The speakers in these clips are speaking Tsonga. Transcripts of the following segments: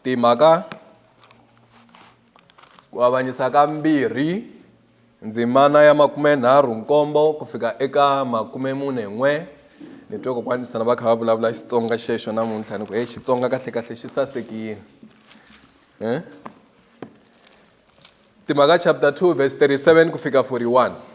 Timhaka ku avanyisa ka mbirhi ndzimana ya makume nharhu nkombo ku fika eka makume mune n'we ni twe kokwani sana va kha va vulavula xitsonga xexo namuntlha ni ku heyi xitsonga kahle kahle xi sasekile um timhaka chapter 2 verse 37 ku fika 41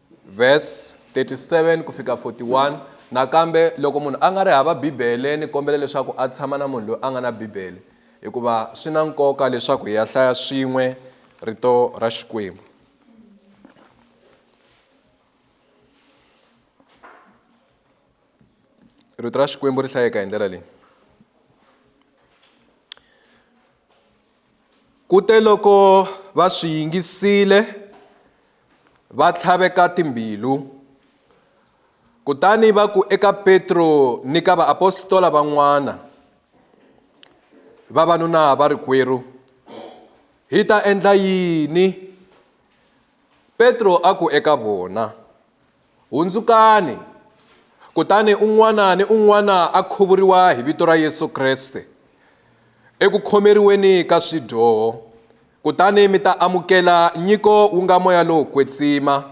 Verse 37 ku fika 41 nakambe loko munhu a nga ri hava bibele ni kombela leswaku a tshama na munhu loyi a nga na bibele hikuva swi na nkoka leswaku hi ya hlaya swin'we rito ra xikwembu rito ra xikwembu ri hlayeka hi ndlela leyi Kuteloko va swi yingisile, va tlhaveka timbilu. Kutani va ku eka Petro ni ka vaapostola van'wana, Vavanuna varikwerhu, hi ta endla yini? Petro a ku eka vona, Hundzukani, kutani un'wana ni un'wana a khuvuriwa hi vito ra Yesu Kreste eku khomeriweni ka swidyoho, kutani mi ta amukela nyiko wu nga moya lowo kwetsima,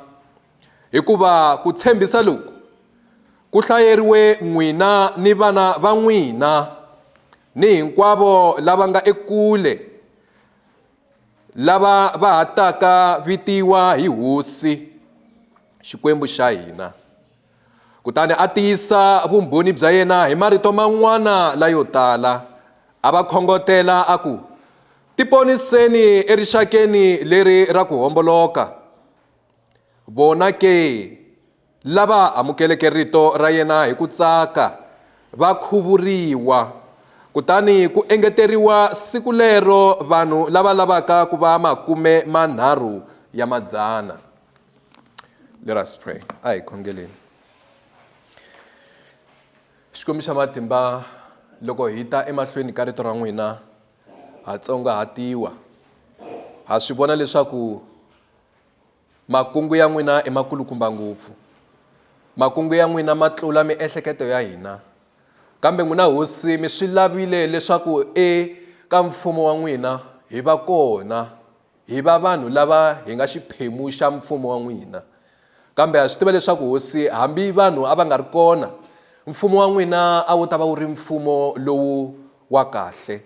hikuva ku tshembisa loku ku hlayeriwe n'wina ni vana va n'wina ni hinkwavo lava nga ekule, lava va ha taka vitiwa hi hosi xikwembu xa hina kutani a tiyisa vumbhoni bya yena hi marito man'wana layo tala a va khongotela a ku tiponiseni erixakeni leri ra ku homboloka vona ke Lava amukeleke rito ra yena hi ku tsaka va khuvuriwa. Kutani ku engeteriwa siku lero vanhu lava lavaka ku va makume manharhu ya madzana. Let us pray. A hi khongeleni. Xikwembu xa matimba loko hi ta emahlweni ka rito ra n'wina ha tsongahatiwa ha swi vona leswaku Makungu ya n'wina i makulukumba ngopfu. Makungu ya n'wina ma tlula miehleketo ya hina. Kambe n'wina hosi mi swi lavile leswaku eka mfumo wa n'wina hi va kona, hi va vanhu lava hi nga xiphemu xa mfumo wa n'wina. Kambe ha swi tiva leswaku hosi hambi vanhu a va nga ri kona, mfumo wa n'wina a wu ta va wu ri mfumo lowu wa kahle.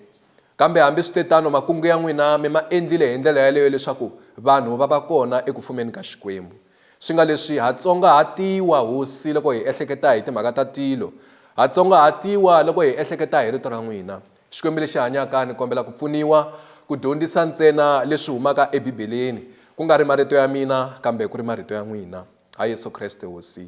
Kambe hambi swi te tano, makungu ya n'wina mi ma endlile hi ndlela yaleyo leswaku vanhu va va kona eku fumeni ka Xikwembu. Swi nga leswi, ha tsongahatiwa hosi loko hi ehleketa hi timhaka ta tilo, ha tsongahatiwa loko hi ehleketa hi rito ra n'wina. Xikwembu lexi hanyaka, ni kombela ku pfuniwa ku dyondzisa ntsena leswi humaka eBibeleni, ku nga ri marito ya mina, kambe ku ri marito ya n'wina. Ha Yesu Kreste Hosi.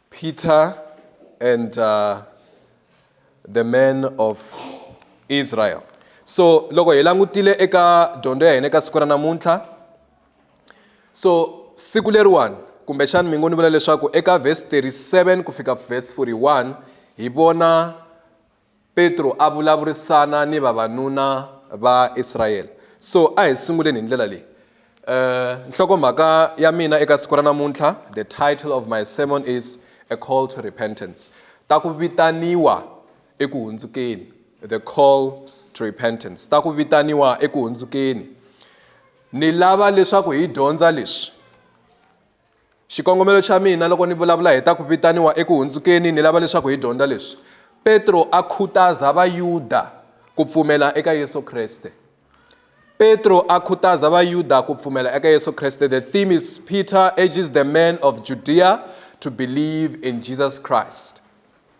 Peter and uh, the man of Israel. So loko hi langutile eka dyondzo ya hina eka siku ra namuntlha so siku leriwani kumbexani mi ngo ni vula leswaku eka verse 37 ku fika verse 41 hi vona Petro a vulavurisana ni vavanuna va Israyele. So a hi sunguleni hi ndlela leyi. Uh, nhlokomhaka ya mina eka siku ra namuntlha, the title of my sermon is A Call to Repentance. Ta ku vitaniwa eku hundzukeni. The call to repentance. Ta ku vitaniwa eku hundzukeni. Ni lava leswaku hi dyondza leswi. Xikongomelo xa mina loko ni vulavula hi ta ku vitaniwa eku hundzukeni, ni lava leswaku hi dyondza leswi Petro a khutaza Vayuda ku pfumela eka Yesu Kreste. Petro a khutaza Vayuda ku pfumela eka Yesu Kreste. The theme is Peter urges the men of Judea to believe in Jesus Christ.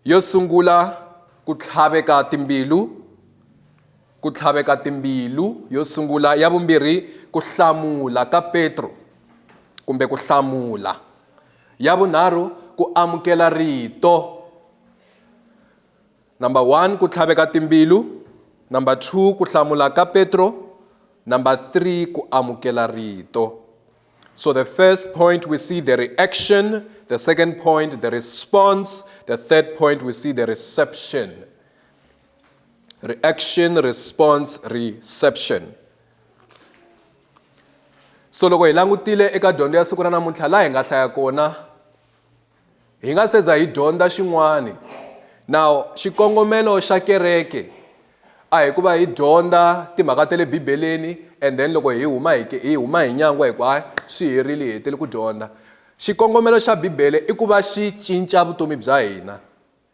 Yo sungula ku tlhaveka timbilu ku tlhaveka timbilu yo sungula ya vumbirhi ku hlamula ka Petro kumbe ku hlamula ya vunharhu ku amukela rito number one ku tlhaveka timbilu number two ku hlamula ka Petro number three ku amukela rito So the first point, we see the reaction. The second point, the response. The third point, we see the reception. Reaction, response, reception. so loko hi langutile eka dyondzo ya siku ra namuntlha laha hi nga hlaya kona hi nga se za hi dyondza xin'wana na xikongomelo xa kereke a hi ku va hi dyondza timhaka ta le bibeleni and then loko hi huma hi hi huma hi nyangwa hi ku hayi swi herile hi hetele ku dyondza xikongomelo xa bibele i ku va xi cinca vutomi bya hina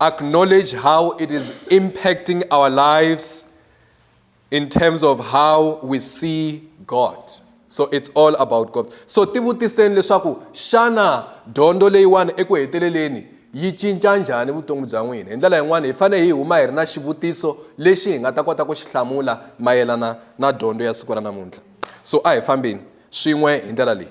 acknowledge how it is impacting our lives in terms of how we see God. So it's all about God. So tivutiseni leswaku shana dondo leyiwani eku heteleleni yi cinca njhani vutomi bya n'wina hi ndlela yin'wana hi fanele hi huma hi ri na xivutiso lexi hi nga ta kota ku xi hlamula mayelana na dyondzo ya siku ra namuntlha so a hi fambeni swin'we hi ndlela leyi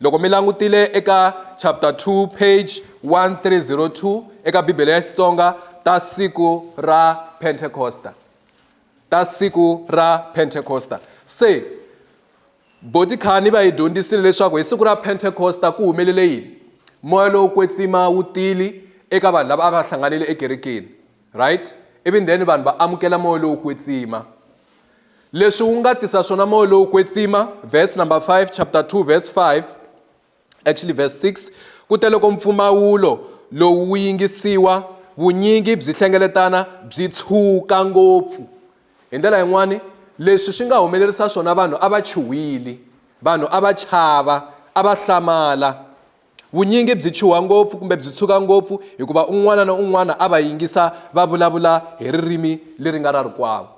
Loko mi langutile eka chapter 2 page 1302 eka Bibele ya Xitsonga ta siku ra Pentecosta ta siku ra Pentecosta se botikhani va hi dyondzisile leswaku hi siku ra Pentecosta ku humelele yini moya lowo kwetsima wu tili eka vanhu lava a va hlanganile ekerekeni right even then vanhu va amukela moya lowo kwetsima leswi wu nga tisa swona moya lowo kwetsima verse number 5 chapter 2 verse 5 actually verse 6 kute loko mpfumawulo lowu wu yingisiwa vunyingi byi hlengeletana byi tshuka ngopfu hi ndlela yin'wani leswi swi nga humelerisa swona vanhu a va chuhwili vanhu a va chava a va hlamala Vunyingi byi chuha ngopfu kumbe byi tshuka ngopfu hikuva un'wana na un'wana a va yingisa va vulavula hi ririmi leri nga ra rikwavo.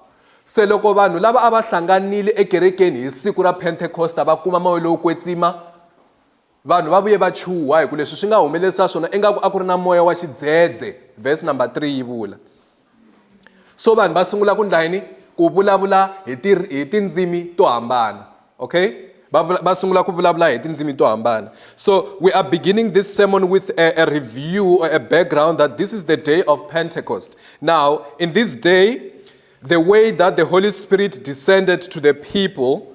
Se loko vanhu lava a va hlanganile ekerekeni hi siku ra Pentekosta va kuma moya lowo kwetsima, vanhu va vuye va chuha hi ku leswi swi nga humelerisa swona ingaku a ku ri na moya wa xidzedze, verse number 3 yi vula. so vanhu va sungula ku ndla yini ku vulavula hi ti hi tindzimi to hambana okay va va sungula ku vulavula hi tindzimi to hambana so we are beginning this sermon with a, a review or a background that this is the day of pentecost now in this day the way that the holy spirit descended to the people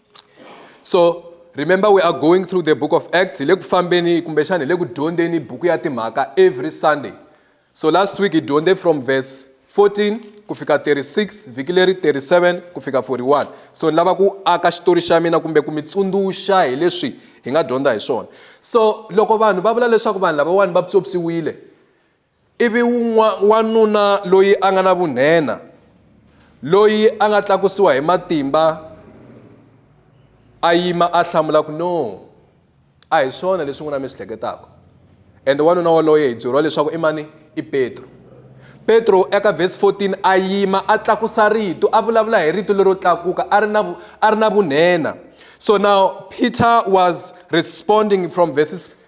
so remember we are going through the book of acts hi le ku fambeni kumbexana hi le ku dyondzeni buku ya timhaka every sunday so last week hi dyondze from verse 14 ku fika 36 vhiki leri 37 ku fika 41 so ni lava ku aka xitori xa mina kumbe ku mi tsundzuxa hi leswi hi nga dyondza hi swona so loko vanhu va vula leswaku vanhu lavawani va pyopyiwile Ivi wun'wa, wanuna loyi a nga na vunhenha, loyi a nga tlakusiwa hi matimba, a yima a hlamula ku no, a hi swona leswi n'wina mi swi hleketaka. Ende wanuna waloye hi byeriwa leswaku i mani? I Petro. Petro eka vhesi 14 a yima a tlakusa rito, a vulavula hi rito lero tlakuka, a ri na a ri na vunhenha. So now Peter was responding from verses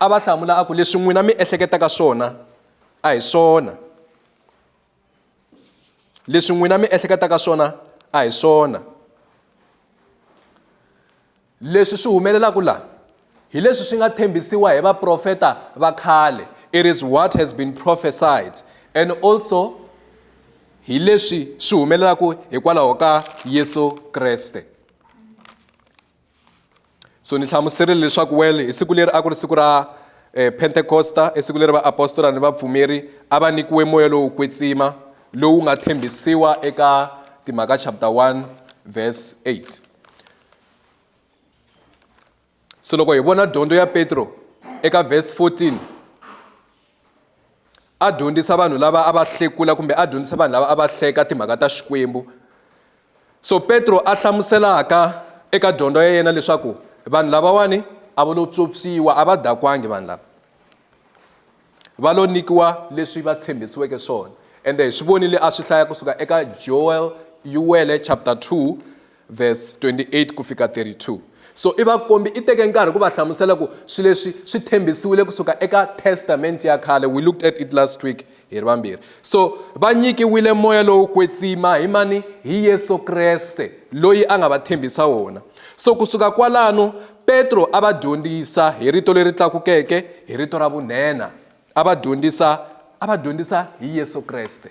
a va hlamula a ku leswi n'wina mi ehleketaka swona a hi swona leswi n'wina mi ehleketaka swona a hi swona leswi swi humelelaka laha hi leswi swi nga tshembisiwa hi vaprofeta va khale it is what has been prophesied and also hi leswi swi humelelaka hikwalaho ka yesu kreste so ni hlamuserile leswaku wele hi siku leri a ku ri siku ra eh, pentekosta i siku leri vaapostola ni vapfumeri a va nyikiwe moya lowo kwetsima lowu nga tshembisiwa eka timhaka chapter 1 verse 8 so loko hi vona dyondzo ya petro eka verse 14 a dyondzisa vanhu lava a va hlekula kumbe a dyondzisa vanhu lava a va hleka timhaka ta xikwembu so petro a hlamuselaka eka dyondzo ya yena leswaku vanhu lavawani a va lo tswopsiwa a va dakwangi vanhu lava va lo nyikiwa leswi va tshembisiweke swona ende hi swi vonile a swi hlaya kusuka eka joel yuwele chapter 2 Verse 28 ku fika 32. So i va kombi i teke nkarhi ku va hlamusela ku swi leswi swi thembisiwile kusuka eka Testament ya khale. We looked at it last week hi ri vambirhi. So va nyikiwile moya lowo kwetsima hi mani? Hi Yesu Kreste loyi a nga va thembisa wona. So kusuka kwalano Petro a va dyondzisa hi rito leri tlakukeke, hi rito ra vunhenha. A va dyondzisa a va dyondzisa hi Yesu Kreste.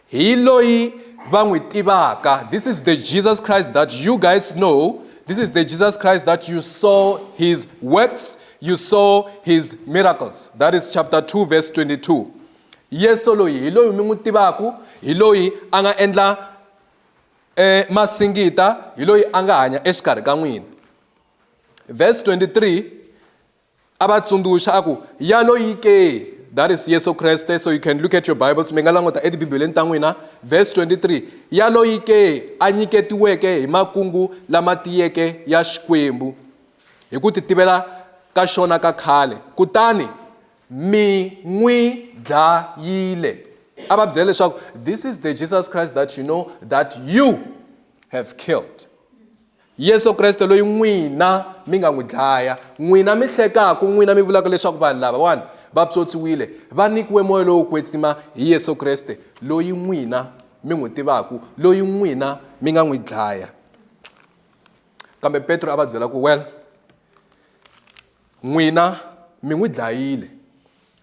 hi loyi va n'wi tivaka this is the jesus christ that you guys know this is the jesus christ that you saw his works you saw his miracles that is chapter 2 verse 22 yesu loyi hi loyi mi n'wi tivaku hi loyi a nga endla eh, masingita hi loyi a nga hanya exikarhi ka n'wina verse 23 a va tsundzuxa a ku ya loyi ke that is yesu kreste so you can look at your bibles mi nga languta etibibeleni ta n'wina verse 23 ya loyi ke a nyiketiweke hi makungu lama tiyeke ya xikwembu hi ku titivela ka xona ka khale kutani mi n'wi dlayile a va byela leswaku this is the jesus christ that you know that you have killed yesu kreste loyi n'wina mi nga n'wi dlaya n'wina mi hlekaku n'wina mi vulaka leswaku vanhu lavawani va psotsiwile va nyikiwe moya lowo kwetsima hi yesu kreste loyi n'wina mi n'wi tivaku loyi n'wina mi nga n'wi dlaya kambe petro a va byela ku well n'wina mi n'wi dlayile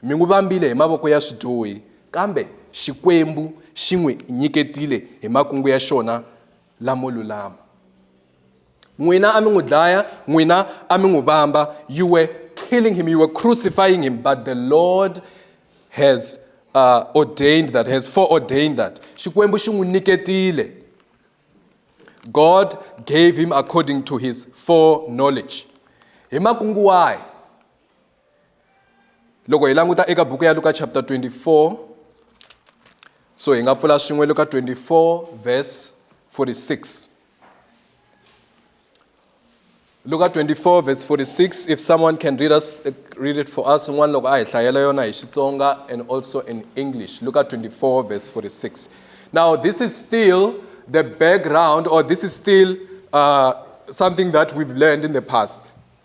mi n'wi vambile hi mavoko ya swidyohi kambe xikwembu xi n'wi nyiketile hi makungu ya xona lamo lulama n'wina a mi n'wi dlaya n'wina a mi n'wi vamba you were killing him you were crucifying him but the lord has uh, ordained that has foreordained that xikwembu xi n'wi nyiketile god gave him according to his foreknowledge hi makungu wahi loko hi languta eka buku ya luka chapter 24 so hi nga pfula swin'we luka 24 verse 46 luka 24 verse 46 if someone can read, us, uh, read it for us un'wana loko a hi hlayela yona hi xitsonga and also in english luka 24 verse 46 now this is still the background or this is still uh, something that we've learned in the past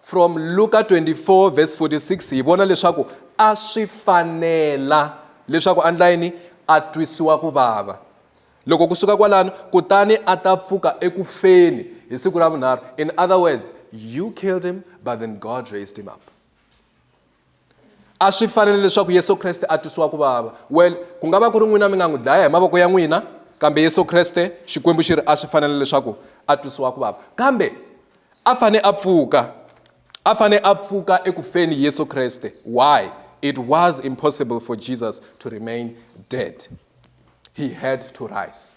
From Luka 24 verse 46 hi vona leswaku a swi fanela leswaku a ndla yini a twisiwa ku vava loko ku suka kwalano kutani a ta pfuka eku feni hi siku ra vunharhu in other words you killed him but then god raised him up a swi fanele leswaku yesu kreste a twisiwa ku vava well ku nga va ku ri n'wina mi nga n'wi dlaya hi mavoko ya n'wina kambe yesu kreste xikwembu xi ri a swi fanele leswaku a twisiwa ku vava kambe a fane a pfuka a fane a pfuka eku feni yesu kreste why it was impossible for jesus to remain dead he had to rise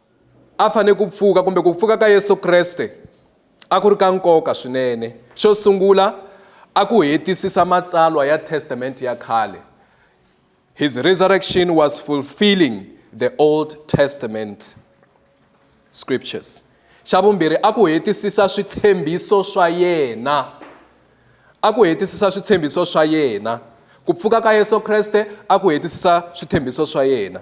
a fanele ku pfuka kumbe ku pfuka ka Yesu Kreste a ku ri ka nkoka swinene. Xo sungula, a ku hetisisa matsalwa ya Testamente ya khale. His resurrection was fulfilling the Old Testament scriptures. Xa vumbirhi, a ku hetisisa switshembiso swa yena. A ku hetisisa switshembiso swa yena. Ku pfuka ka Yesu Kreste a ku hetisisa switshembiso swa yena.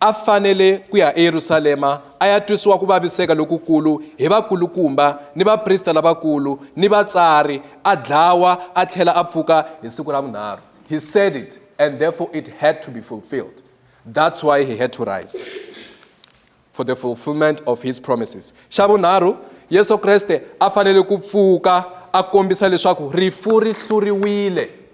a fanele ku ya eYerusalema a ya twisiwa ku vaviseka lokukulu hi vakulukumba ni vaprista lavakulu ni vatsari a dlawa a tlhela a pfuka hi siku ra vunharhu he said it and therefore it had to be fulfilled that's why he had to rise for the fulfillment of his promises xa vunharhu yesu kreste a fanele ku pfuka a kombisa leswaku rifu ri hluriwile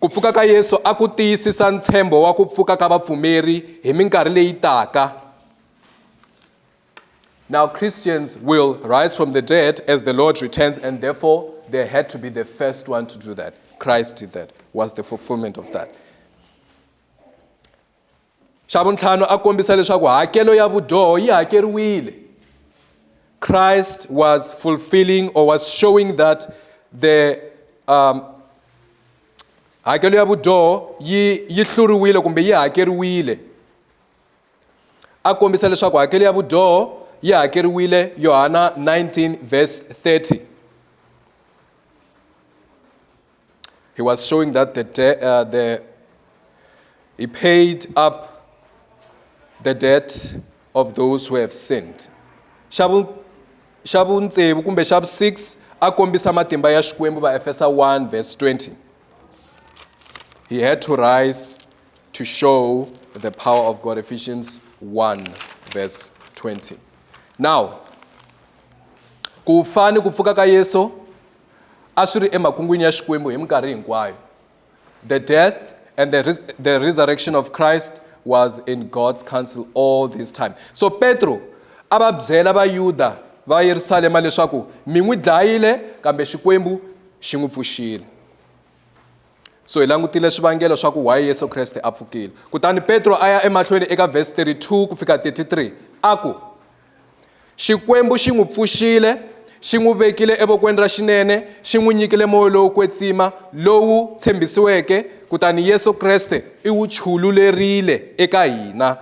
Ku pfuka ka Yesu a ku tiyisisa ntshembo wa ku pfuka ka vapfumeri hi minkarhi leyi taka. Now Christians will rise from the dead as the Lord returns and therefore they had to be the first one to do that. Christ did that, was the fulfillment of that. xa vuntlhanu a kombisa leswaku hakelo ya vudyoho yi hakeriwile christ was fulfilling or was showing that the um, hakelo ya vudyoho yi yi hluriwile kumbe yi hakeriwile a kombisa leswaku hakelo ya vudyoho yi hakeriwile yohana 19 verse 30 He was showing that the, de- uh, the he paid up the debt of those who have sinned. Xa vu- xa vutsevu kumbe xa vu-6 a kombisa matimba ya xikwembu vaefesa 1 verse 20 he had to rise to show the power of god ephesians 1 verse 20 now ku fa ni ku pfuka ka yesu a swi ri emakungwini ya Xikwembu hi minkarhi hinkwayo. The death and the, res the resurrection of Christ was in God's counsel all this time. So Petro a va byela Vayuda va Yerusalema leswaku mi n'wi dlayile kambe Xikwembu xi n'wi pfuxile. So hi langutile swivangelo swa ku why Yesu Kreste a pfukile. Kutani Petro a ya emahlweni eka verse 32 ku fika 33 a ku Xikwembu xi n'wi pfuxile, xi n'wi vekile evokweni ra xinene, xi n'wi nyikile moya lowo kwetsima lowu tshembisiweke, kutani Yesu Kreste i wu chululerile eka hina.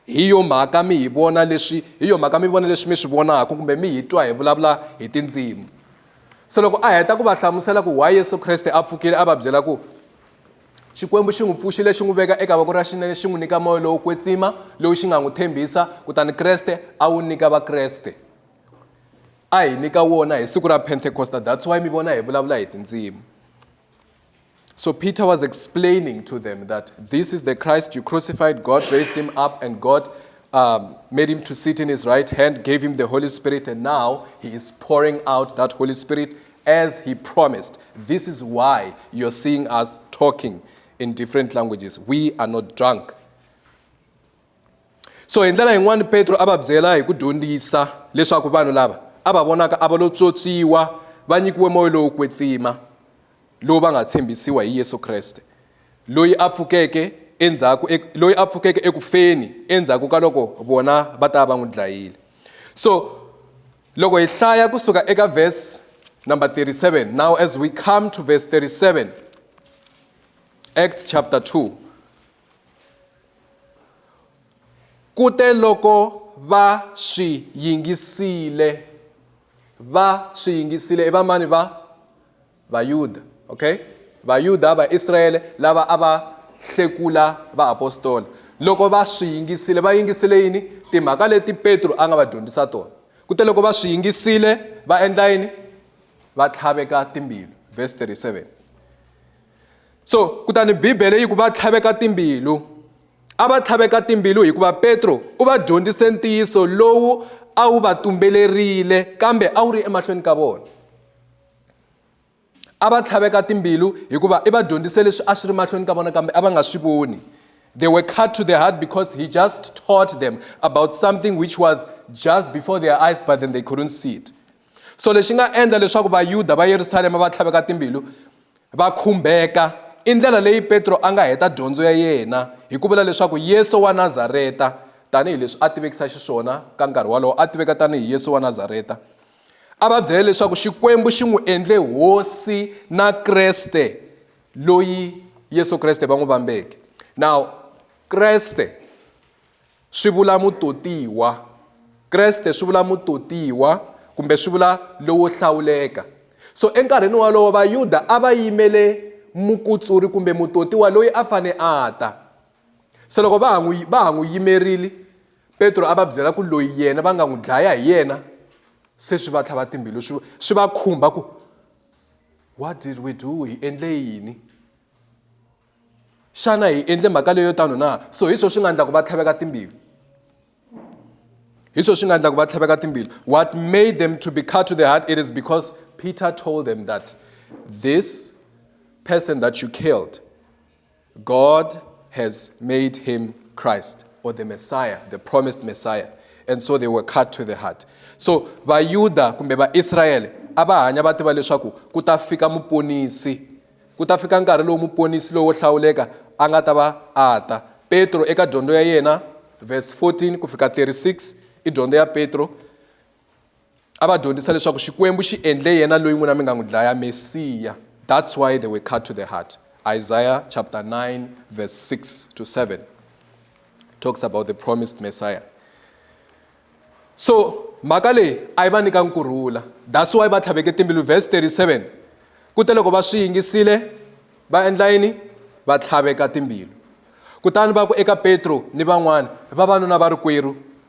Hi yo mhaka mi hi vona leswi hi yo mhaka mi vona leswi mi swi vonaka kumbe mi hi twa hi vulavula hi tindzimi. Se loko a heta ku va hlamusela ku why Yesu Kreste a pfukile a va byela ku Xikwembu xi n'wi pfuxile xi n'wi veka eka voko ra xinene xi n'wi nyika moya lowo kwetsima lowu xi nga n'wi tshembisa kutani Kreste a wu nyika Vakreste a hi nyika wona hi siku ra Pentecosta that's why mi vona hi vulavula hi tindzimi So Peter was explaining to them that this is the Christ you crucified, God raised him up, and God um, made him to sit in his right hand, gave him the Holy Spirit, and now he is pouring out that Holy Spirit as he promised. This is why you're seeing us talking in different languages. We are not drunk. So in ndlela yin'wana Petro a va byela hi ku dyondzisa leswaku vanhu lava a va vonaka a va lo tswotswiwa va nyikiwe moya lowo kwetsima lowu va nga tshembisiwa hi Yesu Kreste loyi a pfukeke endzhaku loyi a pfukeke ekufeni endzhaku ka loko vona va ta va n'wi dlayile so loko hi hlaya kusuka eka verse number 37 now as we come to verse 37 acts chapter 2 kute loko va swi yingisile va swi yingisile i vamani va Vayuda, okay? Vayuda, Vaisrayele lava a va hlekula vaapostola. Loko va swi yingisile, va yingisile yini? Timhaka leti Petro a nga va dyondzisa tona. Kute loko va swi yingisile, va endla yini? Va tlhaveka timbilu. Verse 37. So, kutani Bibele yi ku va tlhaveka timbilu. A va tlhaveka timbilu hikuva Petro u va dyondzise ntiyiso lowu a wu va tumbelerile kambe a wu ri emahlweni ka vona. a va tlhaveka timbilu hikuva i va dyondzise leswi a swi ri mahlweni ka vona kambe a va nga swi voni they were cut to the heart because he just taught them about something which was just before their eyes but then they couldn't see it so lexi nga endla leswaku vayuda va yerusalema va tlhaveka timbilu va khumbeka i ndlela leyi petro a nga heta dyondzo ya yena hi ku vula leswaku yesu wa nazareta tanihileswi a tivekisa xiswona ka nkarhi wolowo a tiveka tanihi yesu wa nazareta a va byele leswaku xikwembu xi n'wi endle hosi na kreste loyi yesu kreste va n'wi vambeke now kreste swi vula mutotiwa kreste swi vula mutotiwa kumbe swi vula lowo hlawuleka so enkarhini wolowo vayuda a va yimele mukutsuri kumbe mutotiwa loyi a fane a ta Se loko va ha n'wi va ha n'wi yimerile Petro a va byela ku loyi yena va nga n'wi dlaya hi yena se swi va tlhava timbilu swi swi va khumba ku what did we do hi endle yini xana hi endle mhaka leyo tano na so hi swona swi nga endla ku va tlhaveka timbilu hi swona swi nga endla ku va tlhaveka timbilu what made them to be cut to the heart it is because peter told them that this person that you killed God has made him Christ or the Messiah, the promised Messiah. And so they were cut to the heart. So Vayuda kumbe va Israel a va hanya va tiva leswaku ku ta fika muponisi ku ta fika nkarhi lowu muponisi lowo hlawuleka a nga ta va a ta petro eka dyondzo ya yena verse 14 ku fika 36 i dyondzo ya petro a va dyondzisa leswaku xikwembu xi endle yena loyi n'wina mi nga n'wi dlaya mesiya that's why they were cut to the heart isaiah chapter 9 verse 6 to 7 talks about the promised messiah so mhaka leyi a yi va nyika nkurhula that's why va tlhaveke timbilu verse 37 kute loko va swi yingisile va endla yini va tlhaveka timbilu kutani va ku eka petro ni van'wana vavanuna va ri kwerhu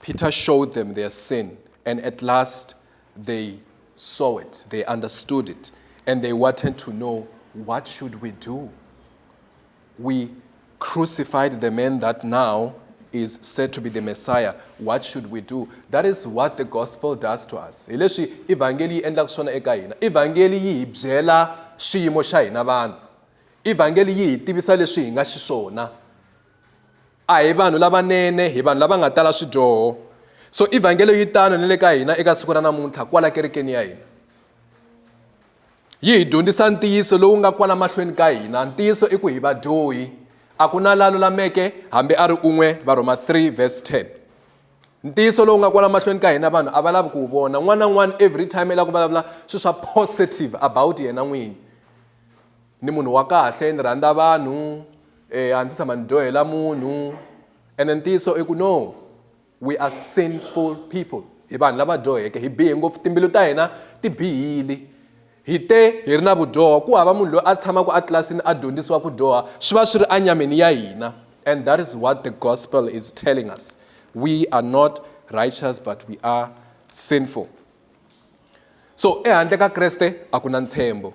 Peter showed them their sin, and at last they saw it, they understood it, and they wanted to know what should we do? We crucified the man that now is said to be the Messiah. What should we do? That is what the gospel does to us. Hi leswi evhangeli yi endlaka swona eka hina. Evhangeli yi hi byela xiyimo xa hina vanhu. Evhangeli yi hi tivisa leswi hi nga xiswona. A hi vanhu lavanene, hi vanhu lava nga tala swidyoho. So Ivhangelo yi tano ni le ka hina eka siku ra namuntlha kwala kerekeni ya hina. Yi hi dyondzisa ntiyiso lowu nga kwala mahlweni ka hina. Ntiyiso i ku hi vadyohi. A ku na la lulameke hambi a ri un'we, Varhoma 3 verse 10. Ntiyiso lowu nga kwala mahlweni ka hina vanhu a va lavi ku wu vona. N'wana na n'wana every time i lava ku vulavula swilo swa positive about yena n'wini. Ni munhu wa kahle, ni rhandza vanhu, e a ndzi tshama ni dyohela munhu ene ntiyiso i ku no we are sinful people hi vanhu lava dyoheke hi bihe ngopfu timbilu ta hina ti bihile hi te hi ri na vudyoho ku hava munhu loyi a tshamaka etlilasini a dyondzisiwa ku dyoha swi va swi ri enyameni ya hina and that is what the gospel is telling us we are not righteous but we are sinful so ehandle ka kreste a ku na ntshembo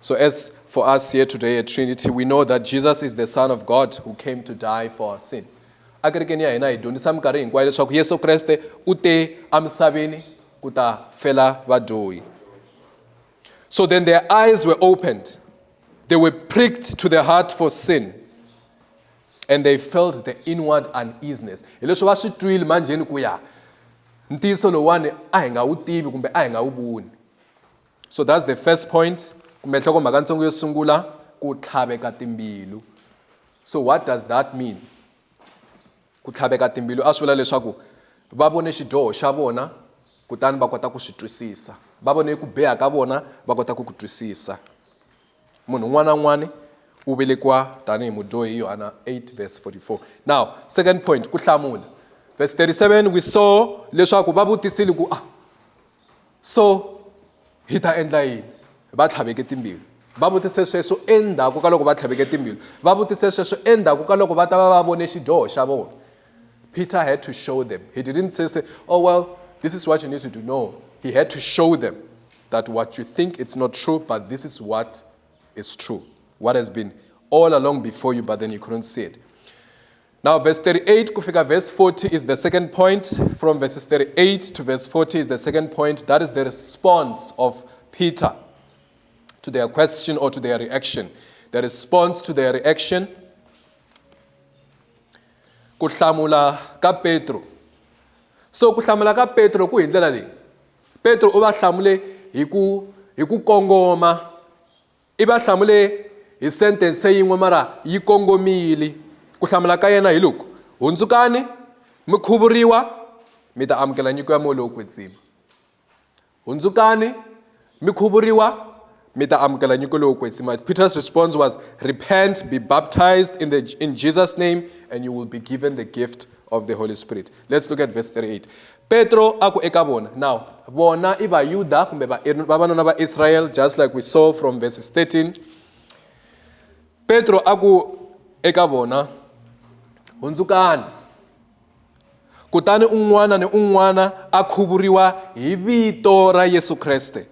So, as for us here today at Trinity, we know that Jesus is the Son of God who came to die for our sin. a kerekeni ya hina hi dyondzisa minkarhi hinkwayo leswaku yesu kreste u te emisaveni ku ta fela vadyohi so then their eyes were opened they were pricked to their heart for sin and they felt the inward uneasiness hi leswi va swi twile manjheni ku ya ntiyiso lowuwani a hi nga wu tivi kumbe a hi nga wu voni so that's the first point kumbe nhlokomhaka ntsongo yo sungula ku tlhaveka timbilu so what does that mean ku tlhaveka timbilu a swi vula leswaku va vone xidyoho xa vona kutani va kota ku swi twisisa va vone ku biha ka vona va kota ku ku twisisa munhu un'wana na un'wana u velekiwa tanihi mudyohi yohana 8 verse 44 now second point ku hlamula verse 37 we saw leswaku va vutisile ku ah so hi ta endla yini va tlhaveke timbilu va vutise sweswo endzhaku ka loko va tlhaveke timbilu va vutise sweswo endzhaku ka loko va ta va va vone xidyoho xa vona peter had to show them he didn't say, say oh well this is what you need to do no he had to show them that what you think it's not true but this is what is true what has been all along before you but then you couldn't see it Now verse 38 kufika verse 40 is the second point. From verses 38 to verse 40 is the second point. That is the response of Peter to their question or to their reaction. The response to their reaction. Ku hlamula ka Petro. So ku hlamula ka Petro ku hi ndlela leyi. Petro u va hlamule hi ku hi ku kongoma I va hlamule hi sentense yin'we mara yi kongomile ku hlamula ka yena hi loku hundzukani mi khuvuriwa mi ta amukela nyiko ya moya lowo kwetsima hundzukani mi khuvuriwa mi ta amukela nyiko lowo kwetsima peter's response was repent be baptized in, the, in jesus name and you will be given the gift of the holy spirit Let's look at verse 38. Petro a ku eka vona. Now, vona i Vayuda kumbe vavanuna va Israel just like we saw from verses 13. Petro a ku eka vona hundzukani kutani un'wana ni un'wana a khuvuriwa hi vito ra Yesu Kriste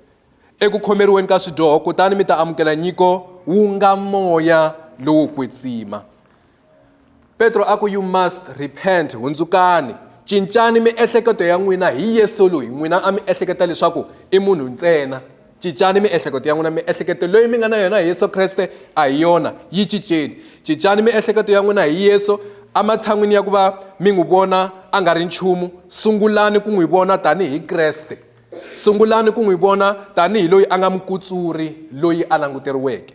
eku khomeriweni ka swidyoho kutani mi ta amukela nyiko wu nga moya lowo kwetsima Petro a ku you must repent hundzukani cincani miehleketo ya n'wina hi Yesu loyi n'wina a mi ehleketa leswaku i munhu ntsena cincani miehleketo ya n'wina miehleketo leyi mi nga na yona hi Yesu Kreste a hi yona yi cinceni cincani miehleketo ya n'wina hi Yesu ematshan'wini ya ku va mi n'wi vona a nga ri nchumu sungulani ku n'wi vona tanihi Kreste sungulani ku n'wi vona tanihi loyi a nga mukutsuri loyi a languteriweke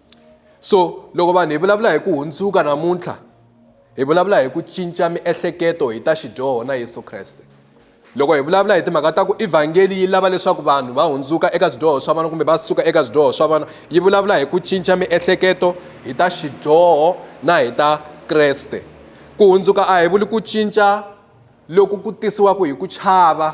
so loko vanhu hi vulavula hi ku hundzuka namuntlha hi vulavula hi ku cinca miehleketo hi ta xidyoho na yesu kreste loko hi vulavula hi timhaka ta ku evhangeli yi lava leswaku vanhu va hundzuka eka swidyoho swa vona kumbe va suka eka swidyoho swa vona yi vulavula hi ku cinca miehleketo hi ta xidyoho na hi ta kreste ku hundzuka a hi vuli ku cinca loku ku tisiwaka hi ku chava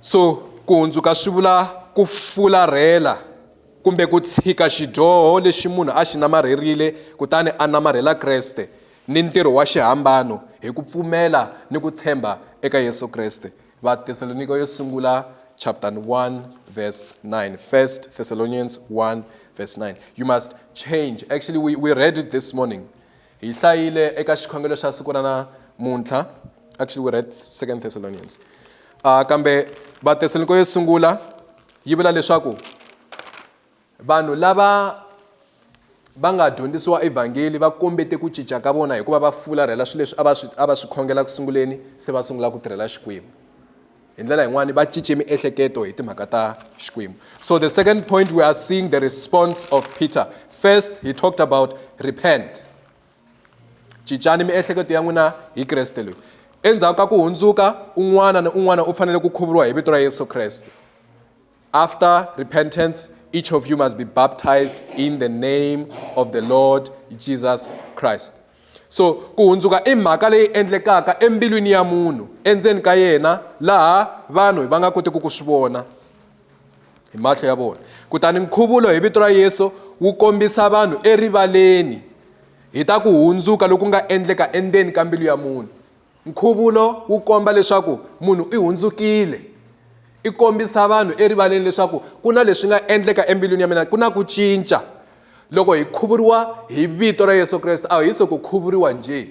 so ku hundzuka swi vula ku fularhela kumbe ku tshika xidyoho lexi munhu a xi namarherile kutani a namarhela kreste ni ntirho wa xihambano hi ku pfumela ni ku tshemba eka yesu kreste vathesalonika yo sungula chapter 1 verse 9 first thessalonians 1 verse 9 you must change actually we, we read it this morning Hi hlayile eka xikhongelo xa siku ra namuntlha. Actually, we read Second Thessalonians. Uh, kambe Vatesaloniko yo sungula yi vula leswaku vanhu lava va nga dyondzisiwa evhangeli va kombete ku cinca ka vona hikuva va fularhela swilo leswi a va swi a va swi khongela ku sunguleni se va sungula ku tirhela xikwembu hi ndlela yin'wani va cince miehleketo hi timhaka ta xikwembu so the second point we are seeing the response of peter first he talked about repent cincani miehleketo ya n'wina hi kreste loyi endzhaku ka ku hundzuka un'wana ni un'wana u fanele ku khuvuriwa hi vito ra yesu kreste After repentance, each of you must be baptized in the name of the Lord Jesus Christ. so ku hundzuka i mhaka leyi endlekaka embilwini ya munhu endzeni ka yena laha vanhu va nga kotiki ku swi vona hi mahlo ya vona kutani nkhuvulo hi vito ra yesu wu kombisa vanhu erivaleni hi ta ku hundzuka loku nga endleka endzeni ka mbilu ya munhu nkhuvulo wu komba leswaku munhu i hundzukile i kombisa vanhu erivaleni leswaku ku na leswi nga endleka embilwini ya mina ku na ku cinca loko hi khuvuriwa hi vito ra yesu kreste a hi se ku khuvuriwa njhe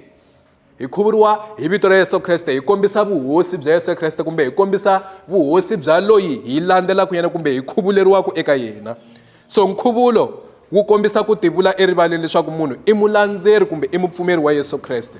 hi khuvuriwa hi vito ra yesu kreste hi kombisa vuhosi bya yesu kreste kumbe hi kombisa vuhosi bya loyi hi landzelaka yena kumbe hi khuvuleriwaka eka yena so nkhuvulo wu kombisa ku tivula erivaleni leswaku munhu i mulandzeri kumbe i mupfumeri wa yesu kreste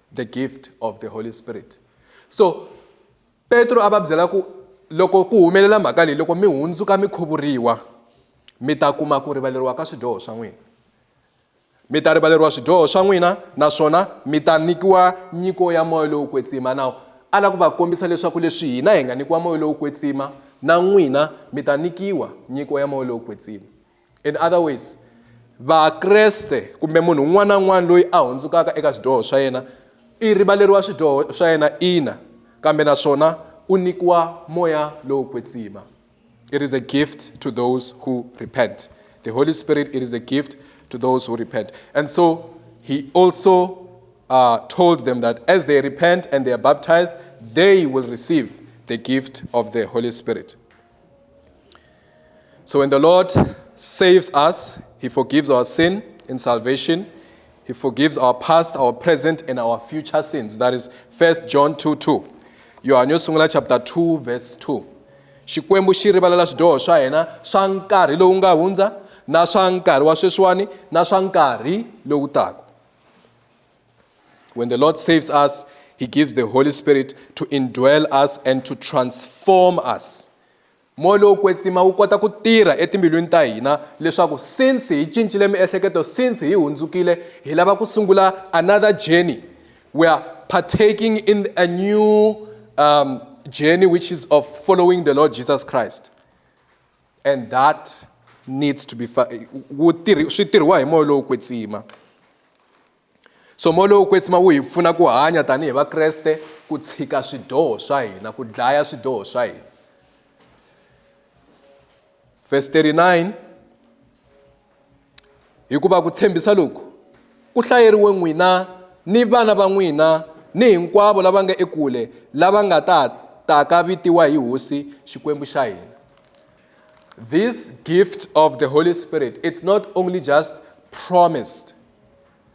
the gift of the holy spirit so petro a va byela ku loko ku humelela mhaka leyi loko mi hundzuka mi khuvuriwa mi ta kuma ku rivaleriwa ka swidyoho swa n'wina mi ta rivaleriwa swidyoho swa n'wina naswona mi ta nyikiwa nyiko ya moya lowu kwetsima nawu a lava ku va kombisa leswaku leswi hina hi nga nyikiwa moya lowu kwetsima na n'wina mi ta nyikiwa nyiko ya moya lowu kwetsima in other ways vakreste kumbe munhu un'wana na un'wana loyi a hundzukaka eka swidyoho swa yena i rivaleriwa swidyoho swa yena ina kambe naswona u nyikiwa moya lowo kwetsima it is a gift to those who repent the holy spirit it is a gift to those who repent and so he also uh, told them that as they repent and they are baptized they will receive the gift of the holy spirit So when the Lord saves us, He forgives our sin in salvation. He forgives our past, our present, and our future sins. That is 1 John 2 2. Yohane yo sungula chapter 2 verse 2. Xikwembu xi rivalela swidyoho swa hina swa nkarhi lowu nga hundza na swa nkarhi wa sweswiwani na swa nkarhi lowu taka. When the Lord saves us, He gives the Holy Spirit to indwell us and to transform us. moya lowu kwetsima wu kota ku tirha etimbilwini ta hina leswaku since hi cincile miehleketo since hi hundzukile hi lava ku sungula another journey we are partaking in a new um, journey which is of following the lord jesus christ and that needs to be wu tirhi swi tirhiwa hi moya lowo kwetsima so moya lowo kwetsima wu hi pfuna ku hanya tanihi vakreste ku tshika swidyoho swa hina ku dlaya swidyoho swa hina verse 39 Hikuva ku tshembisa loku ku hlayeriwe n'wina ni vana va n'wina ni hinkwavo lava nga ekule lava nga ta taka vitiwa hi Hosi Xikwembu xa hina. This gift of the Holy Spirit, it's not only just promised.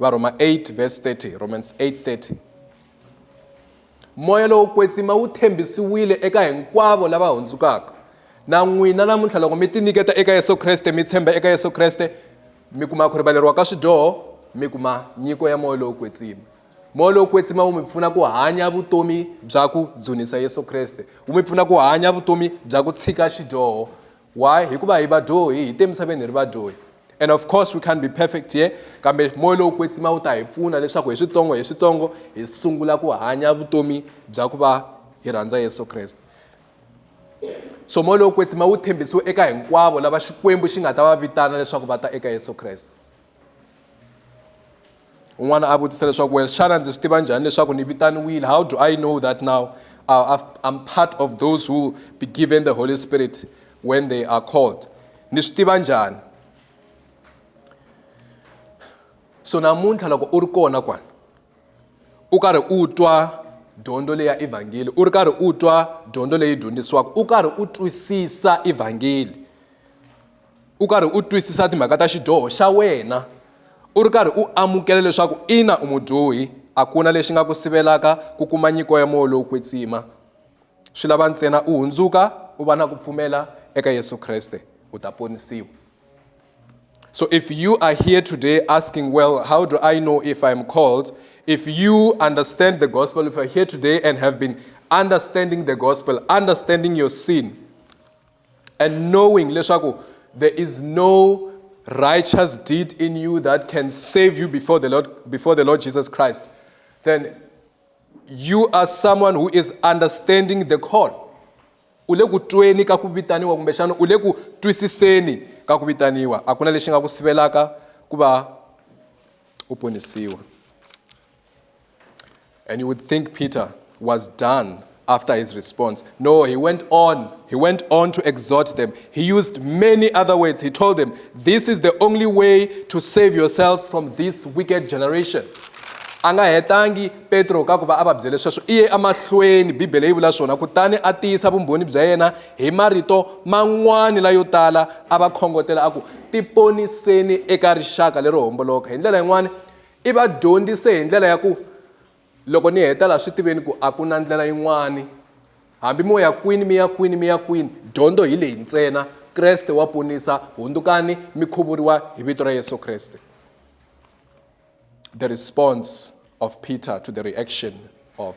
Varhoma 8 verse 30, Romans 8:30. Moya lowo kwetsima wu tshembisiwile eka hinkwavo lava hundzukaka. Na n'wina namuntlha loko mi tinyiketa eka Yesu Kreste, mi tshemba eka Yesu Kreste, mi kuma ku rivaleriwa ka swidyoho, mi kuma nyiko ya moya lowo kwetsima. Moya lowo kwetsima wu mi pfuna ku hanya vutomi bya ku dzunisa Yesu Kreste, wu mi pfuna ku hanya vutomi bya ku tshika xidyoho, why hikuva hi vadyohi hi te misaveni hi ri vadyohi and of course we can't be perfect here kambe moya lowu kwetsima wu ta hi pfuna leswaku hi switsongo hi switsongo hi sungula ku hanya vutomi bya ku va hi rhandza yesu kreste so moya lowu kwetsima wu tshembisiwe eka hinkwavo lava xikwembu xi nga ta va vitana leswaku va ta eka yesu kreste un'wana a vutisa leswaku well xana ndzi swi tiva njhani leswaku ni vitaniwile how do i know that now uh, i'm part of those who will be given the holy spirit when they are called ni swi tiva njhani so namuntlha loko u ri kona kwani u karhi u twa dyondzo leyi ya evhangeli u ri karhi u twa dyondzo leyi dyondzisiwaka u karhi u twisisa evhangeli u karhi u twisisa timhaka ta xidyoho xa wena u ri karhi u amukela leswaku ina u mudyohi a ku na lexi nga ku sivelaka ku kuma nyiko ya moya lowu kwetsima swi lava ntsena u hundzuka u va na ku pfumela eka yesu kreste u ta ponisiwa so if you are here today asking well how do i know if i am called if you understand the gospel if you are here today and have been understanding the gospel understanding your sin and knowing leswaku there is no righteous deed in you that can save you before the Lord, before the Lord Jesus Christ, then you are someone who is understanding the call. u le ku tweni ka ku vitaniwa kumbexana u le ku twisiseni ka ku vitaniwa a ku na lexi nga ku sivelaka ku va u ponisiwa And you would think Peter was done after his response. No, he went on. He went on to exhort them. He used many other words. He told them, This is the only way to save yourself from this wicked generation. a nga hetangi petro ka ku va a va byele sweswo i ye emahlweni bibele yi vula swona kutani a tiyisa vumbhoni bya yena hi marito man'wani layo tala a va khongotela a ku tiponiseni eka rixaka lero homboloka hi ndlela yin'wani I va dyondzise hi ndlela ya ku loko ni heta laha swi tiveni ku a ku na ndlela yin'wani hambi mo ya kwini mi ya kwini mi ya kwini dyondzo hi leyi ntsena Kreste wa ponisa hundzukani mi khuvuriwa hi vito ra Yesu Kreste the response of Peter to the reaction of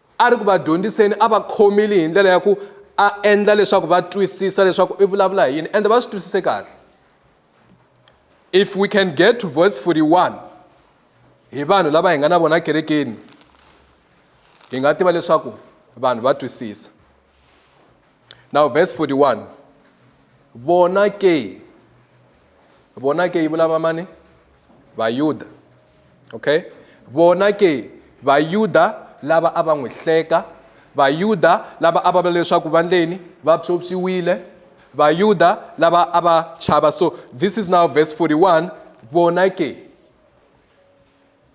a ri ku va dyondziseni a va khomile hi ndlela ya ku a endla leswaku va twisisa leswaku i vulavula hi yini ende va swi twisise kahle if we can get to verse 41 hi vanhu lava hi nga na vona kerekeni hi nga tiva leswaku vanhu va twisisa now verse 41 vona ke vona ke yi vulavula mani vayuda okay vona ke vayuda lava a va n'wi hleka vayuda lava a va vula leswaku va ndleni va psopsiwile vayuda lava a va chava so this is now verse 41 vona ke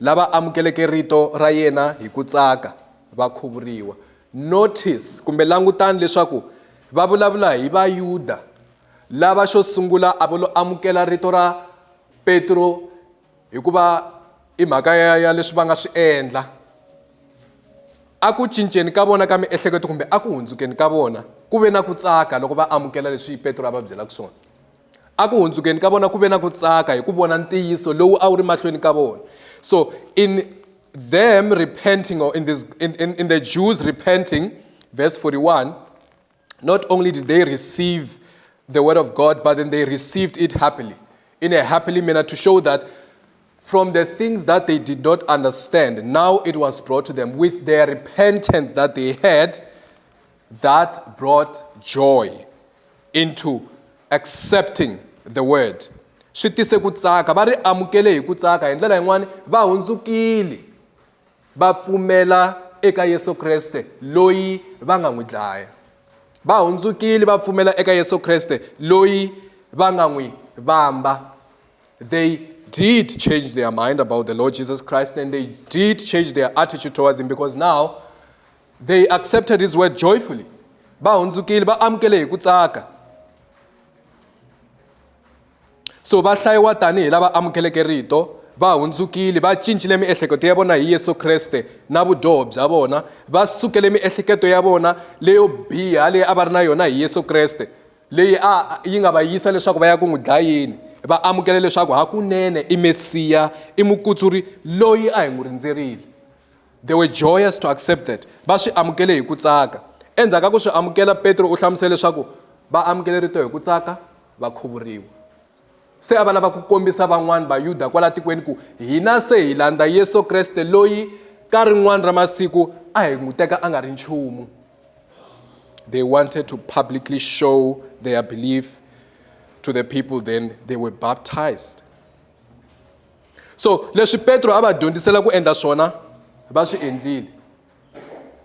lava amukeleke rito ra yena hi ku tsaka va khuvuriwa notice kumbe langutani leswaku va vulavula hi vayuda lava xo sungula a va lo amukela rito ra petro hikuva i mhaka ya, ya leswi va nga swi endla a ku cinceni ka vona ka miehleketo kumbe a ku hundzukeni ka vona ku ve na ku tsaka loko va amukela leswi petro a va byelaka swona Eku hundzukeni ka vona ku ve na ku tsaka hi ku vona ntiyiso lowu a wu ri mahlweni ka vona. So in them repenting or in, this, in, in, in the Jews repenting, verse 41, not only did they receive the word of God, but then they received it happily, in a happily manner to show that from the things that they did not understand, now it was brought to them with their repentance that they had, that brought joy into accepting the word swi tise ku tsaka va ri amukele hi ku tsaka hi ndlela yin'wani va hundzukile va pfumela eka yesu kreste loyi va nga n'wi dlaya va hundzukile va pfumela eka yesu kreste loyi va nga n'wi vamba they did change their mind about the lord jesus christ and they did change their attitude towards him because now They accepted his word joyfully. Va hundzukile va amukele hi ku tsaka. So va hlayiwa tanihi lava amukeleke rito va hundzukile va cincile miehleketo ya vona hi Yesu Kreste na vudyoho bya vona va sukele miehleketo ya vona leyo biha leyi a va ri na yona hi Yesu Kreste leyi a yi nga va yisa leswaku va ya ku n'wi dlayeni va amukele leswaku hakunene i Mesiya i mukutsuri loyi a hi n'wi rindzerile They were joyous to accept that. Va swi amukele hi ku tsaka. Endzhaku ka ku swi amukela, Petro u hlamusele leswaku va amukele rito hi ku tsaka va khuvuriwa. Se a va lava ku kombisa van'wana Vayuda kwala tikweni ku hina se hi landza Yesu Kreste loyi ka rin'wana ra masiku a hi n'wi teka a nga ri nchumu. They wanted to publicly show their belief to the people then they were baptized. so leswi petro a va dyondzisela ku endla swona va swi endlile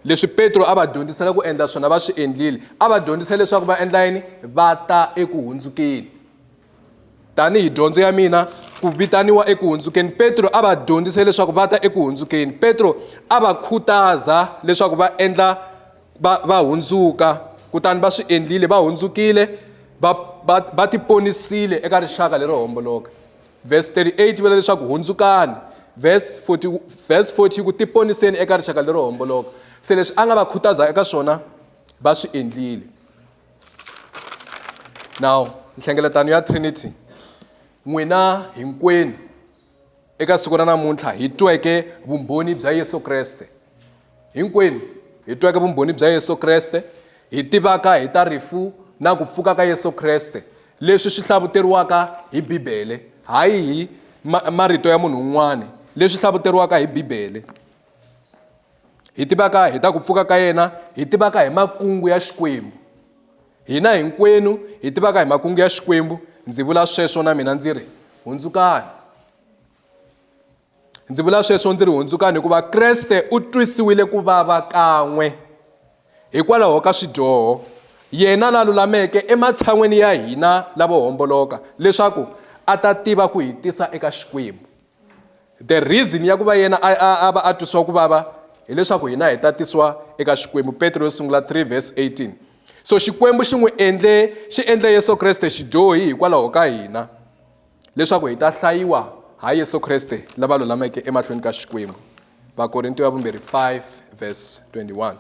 leswi petro a va dyondzisela ku endla swona va swi endlile a va dyondzise leswaku va endla yini va ta eku hundzukeni tanihi dyondzo ya mina ku vitaniwa eku hundzukeni petro a va dyondzise leswaku va ta eku hundzukeni petro a va khutaza leswaku va endla va va hundzuka kutani va swi endlile va hundzukile va va va tiponisile eka rixaka lero homboloka Vhesi 38 vula leswaku hundzukani. Vhesi 40, vhesi 40 ku tiponiseni eka rixaka lero homboloka. Se leswi a nga va khutaza eka swona va swi endlile. Now, nhlengeletano ya Trinity n'wina hinkwenu eka siku ra namuntlha hi tweke vumbhoni bya Yesu Kreste Hinkwenu hi tweke vumbhoni bya Yesu Kreste, hi tivaka hi ta rifu na ku pfuka ka Yesu Kreste, leswi swi hlavuteriwaka hi Bibele, hayi hi ma marito ya munhu un'wana, leswi hlavuteriwaka hi Bibele. Hi tivaka hi ta ku pfuka ka yena, hi tivaka hi makungu ya Xikwembu. Hina hinkwenu hi tivaka hi makungu ya Xikwembu, ndzi vula sweswo na mina ndzi ri, hundzukani. ndzi vula sweswo ndzi ri hundzukani hikuva kreste u twisiwile ku vava kan'we hikwalaho ka swidyoho yena la lulameke ematshan'weni ya hina lavo homboloka leswaku a ta tiva ku hi tisa eka xikwembu the reason ya ku va yena a va a twisiwa ku vava hileswaku hina hi tatisiwa eka xikwembu petro yo sungula 3 verse 18 so xikwembu xi n'wi endle xi endle yesu kreste xidyohi hikwalaho ka hina Leswaku hi ta hlayiwa ha Yesu Kriste lava lulameke emahlweni ka Xikwembu. Vakorintiyo ya vumbirhi 5 verse 21.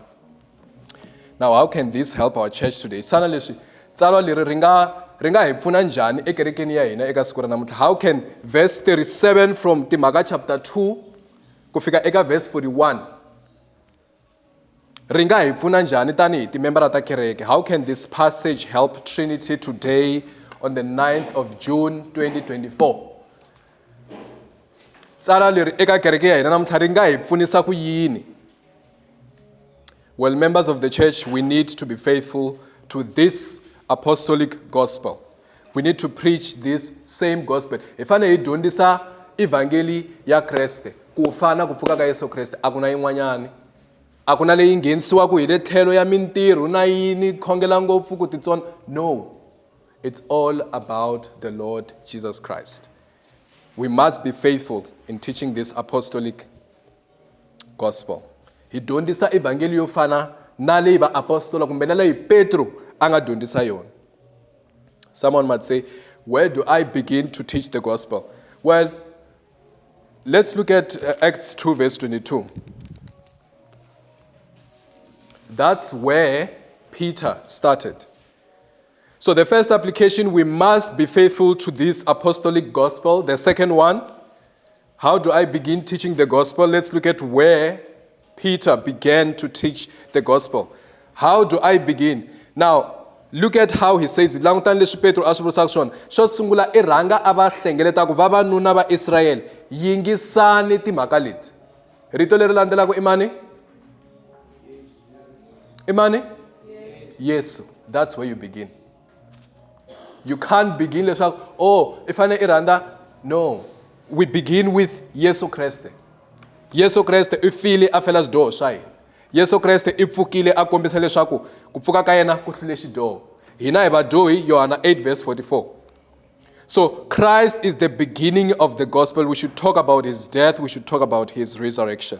Now how can this help our church today? Xana leswi tsalwa leri ri nga ri nga hi pfuna njhani ekerekeni ya hina eka siku ra namuntlha? How can verse 37 from Timhaka chapter 2 ku fika eka verse 41 ri nga hi pfuna njhani tanihi timembara ta kereke how can this passage help trinity today on the 9th of june 2024 tsala leri eka kereke ya hina namuntlha ri nga hi pfunisa ku yini well members of the church we need to be faithful to this apostolic gospel we need to preach this same gospel hi fanele hi dyondzisa evhangeli ya kreste ku fa na ku pfuka ka yesu kreste a ku na yin'wanyani a ku na leyi nghenisiwaka hi le tlhelo ya mintirho na yini khongela ngopfu ku titsona no it's all about the lord jesus christ we must be faithful in teaching this apostolic gospel hi dyondzisa evhangeli yo fana na leyi vaapostola kumbe na leyi petro a nga dyondzisa yona someone might say where do i begin to teach the gospel well let's look at uh, acts 2 verse 22 that's where peter started so the first application we must be faithful to this apostolic gospel the second one How do I begin teaching the gospel? Let's look at where Peter began to teach the gospel. How do I begin? Now, look at how he says it langutani leswi petro a swi vurisaka swona xo sungula i rhanga a va hlengeleta ku vavanuna va israyele yingisani timhaka leti rito leri landzelaka i mani i mani yesu that's where you begin you can't begin leswaku oh i fanele i rhandza no we begin with yesu kreste yesu kreste i file a fela swidyoho swa hina yesu kreste i pfukile a kombisa leswaku ku pfuka ka yena ku hlule xidyoho hina hi vadyohi yohana 8 verse 44 so christ is the beginning of the gospel we should talk about his death we should talk about his resurrection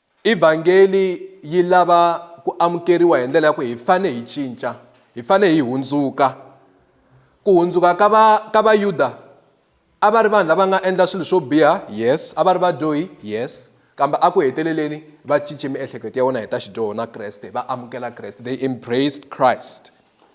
Evhangeli yi lava ku amukeriwa hi ndlela ya ku hi fane hi cinca, hi fane hi hundzuka. Ku hundzuka ka va ka Vayuda a va ri vanhu lava nga endla swilo swo biha, yes, a va ri vadyohi, yes, kambe a ku heteleleni va cince miehleketo ya vona hi ta xidyoho na Kreste, va amukela Kreste, they embraced Christ.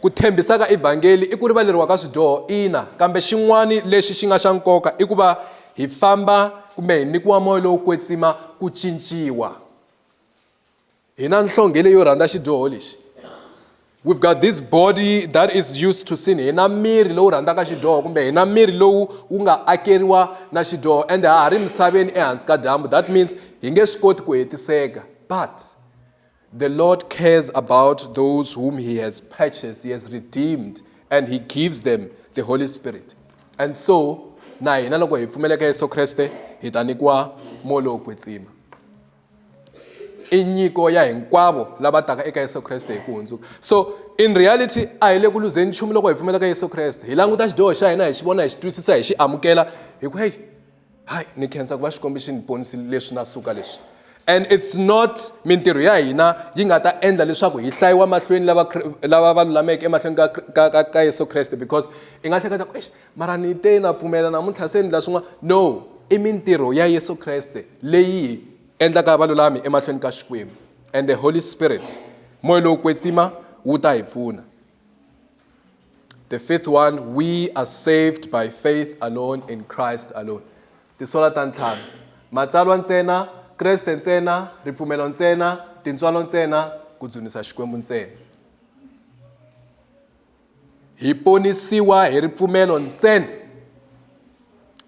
Ku tshembisa ka Evhangeli i ku rivaleriwa ka swidyoho, ina, kambe xin'wana lexi xi nga xa nkoka i ku va hi famba kumbe hi nyikiwa moya lowo kwetsima ku cinciwa. Hi na nhlonge leyo rhandza xidyoho lexi. We've got this body that is used to sin. Hi na miri lowu rhandzaka xidyoho kumbe hi na miri lowu wu nga akeriwa na xidyoho ende ha ha ri misaveni ehansi ka dyambu. That means hi nge swi koti ku hetiseka but The Lord cares about those whom He has purchased, He has redeemed, and He gives them the Holy Spirit. And so, na hina loko hi pfumeleka Yesu Kriste, hi ta nyikiwa moya lowo kwetsima. I nyiko ya hinkwavo lava taka eka Yesu Kriste hi ku hundzuka. So, in reality, a hi le ku luzeni nchumu loko hi pfumeleka Yesu Kriste. Hi languta xidyoho xa hina, hi xi vona, hi xi twisisa, hi xi amukela, hi ku heyi, hayi ni khensa ku va xikombi xi ni ponisi leswi na suka leswi and it's not mintirho ya hina yi nga ta endla leswaku hi hlayiwa mahlweni lava lava va lulameke emahlweni ka ka ka, ka Yesu Kreste because i nga hleketa ku eish mara ni te na pfumela namuntlha se ni la swin'wana no i mintirho ya Yesu Kreste leyi endlaka valulami emahlweni ka Xikwembu and the Holy Spirit moya lowo kwetsima wu ta hi pfuna The fifth one, we are saved by faith alone in Christ alone. Tisola ta ntlhanu. Matsalwa ntsena, Kreste ntsena, ripfumelo ntsena, tintswalo ntsena, ku dzunisa Xikwembu ntsena. Hi ponisiwa hi ripfumelo ntsena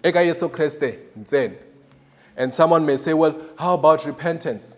eka Yesu Kreste ntsena. And someone may say, well, how about repentance?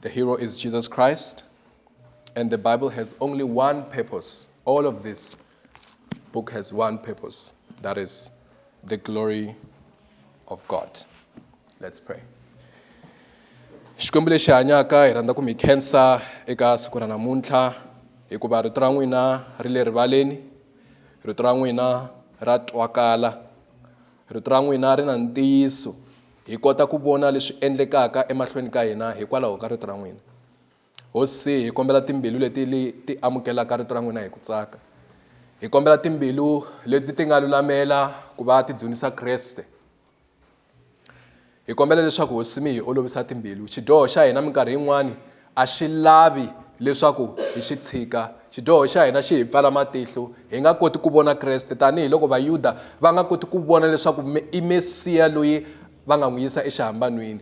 The hero is Jesus Christ, and the Bible has only one purpose. All of this book has one purpose that is, the glory of God. Let's pray. xikwembu lexi hanyaka hi rhandza ku mi khensa eka siku ra namuntlha hikuva rito ra n'wina ri le rivaleni rito ra n'wina ra twakala rito ra n'wina ri na ntiyiso Hi kota ku vona leswi endlekaka emahlweni ka hina hikwalaho ka Rito ra n'wina. Hosi, hi kombela timbilu leti li ti amukelaka Rito ra n'wina hi ku tsaka. Hi kombela timbilu leti ti nga lulamela ku va ti dzunisa Kreste. Hi kombela leswaku, Hosi, mi hi olovisa timbilu. Xidyoho xa hina minkarhi yin'wana A xi lavi leswaku hi xi tshika. Xidyoho xa hina xi hi pfala matihlo. Hi nga koti ku vona Kreste tanihi loko Vayuda va nga koti ku vona leswaku i Mesiya loyi va nga n'wi yisa exihambanwini.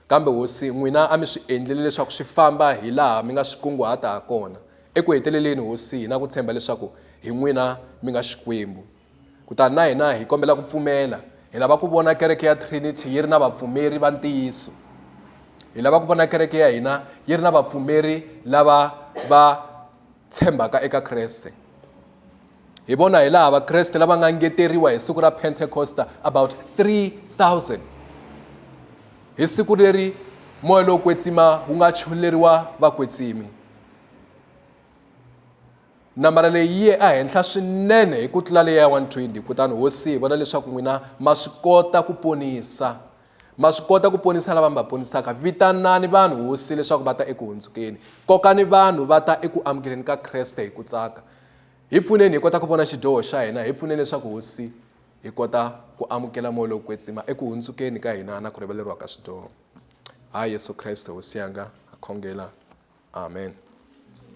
Kambe, Hosi, n'wina a mi swi endlile leswaku swi famba hi laha mi nga swi kunguhata ha kona. Eku heteleleni, Hosi, hi na ku tshemba leswaku hi n'wina mi nga Xikwembu. Kutani na hina hi kombela ku pfumela. Hi lava ku vona kereke ya Trinity yi ri na vapfumeri va ntiyiso. Hi lava ku vona kereke ya hina yi ri na vapfumeri lava va tshembaka eka Kreste. Hi vona hi laha Vakreste lava nga ngeteriwa hi siku ra Pentecosta about 3000 hi siku leri moya lowo kwetsima wu nga choleriwa vakwetsimi. Nambara leyi yi ye ehenhla swinene hi ku tlula leyi ya 120. Kutani hosi yi vona leswaku n'wina ma swi kota ku ponisa. Ma swi kota ku ponisa lava mi va ponisaka. Vitanani vanhu, hosi, leswaku va ta eku hundzukeni. Kokani vanhu va ta eku amukeleni ka Kreste hi ku tsaka. Hi pfuneni hi kota ku vona xidyoho xa hina. Hi pfuneni leswaku, hosi, hi kota ku amukela moya lowo kwetsima eku hundzukeni ka hina na ku rivaleriwa ka swidyoho. Ha Yesu Kreste, Hosi yanga, ha khongela. Amen.